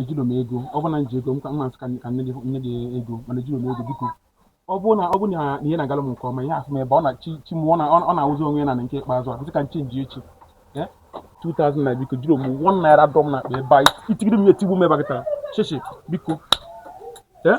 ejiro m ego ọ bụrụ na m ji ego m ka mmasị ka nye gị nye gị ego mana ejiro m ego biko ọ bụrụ na ọ bụrụ na ihe na-agara m nke ọma ihe asị m ebe ọ na chi chi m ọ na- ọ na-awụzi onwe ya na nke ikpeazụ a sị ka m chenjie chi Eh? 2000 nna biko ejiro m one naira dọm na akpa ebe a i tigide m ya etigbu m ebe a kịta shishi biko Eh?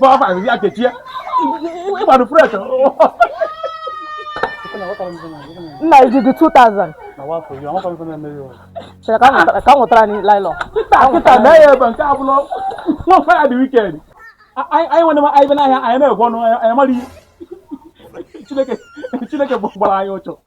Papa, ya kechie. Ịgbado fresh. Nna i jidị 2000. Chere ka m nwetara anyị naịlọn. Kịta mee ya ebe nke abụla nwa mfa ya dị weekend. Anyị nwere anyị be n'ahịa anyị na-egwe ọnụ anyị mara ihe. Chineke gbara anyị ụchụ.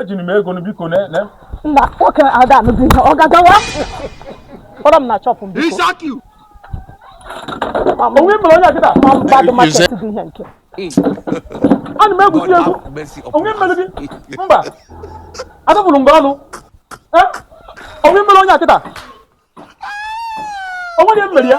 ejiro m ego biko na na nna nwoke ada anụzi ihe ọ gagawa kpọrọ m na shop m biko o nwe mere onye a kịta ma mgbadụ market bụ ihe nke ana m egwusi egwu o nwe mere gị mba adọbụrụ mgbe ọnụ o nwe mere onye a kịta o nwedị mere ya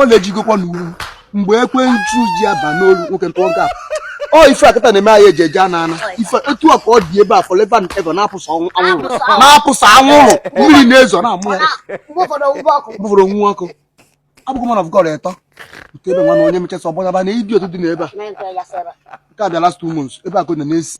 ọ na-ejigokwa n'uwu mgbe ekwensu ji aba n'ọlụ nwoke ntụọ nke a ọ ife a kịta na-eme anyị e ji eje ana ana ife etu a ka ọ dị ebe a forever and ever na-apụsa anwụrụ na-apụsa anwụrụ mmiri na-ezo na-amụ ya bụfụrụ onwu ọkụ abụghị man of God etọ nke ebe nwa na onye mechasị ọgbọnyaba na idi otu dị n'ebe a nke a bịa last two months ebe a ka ọ na na-esi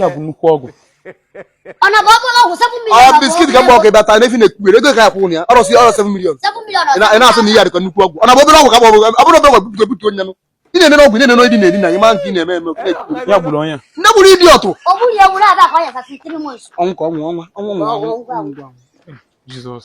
ya bụ nnukwu ọgwụ ọ biskit ka mgbe ọkụ ịbata n'efi na-ekpukpere ego ka ya kwụ ya ọrọsi ọrọ 7 million ị na-asị na ihe a dịkọ nnukwu ọgwụ ọ na obere ọgwụ ka ọ bụrụ obere ọgwụ bute bute onye nụ ị na-enene ọgwụ na-enene ịdị na-eri na gị ma nke ị na-eme eme ya gburu onye nne gburu ịdị ọtụ ọnwụ ka ọnwụ ọnwa ọnwụ ọnwụ ọnwụ Jesus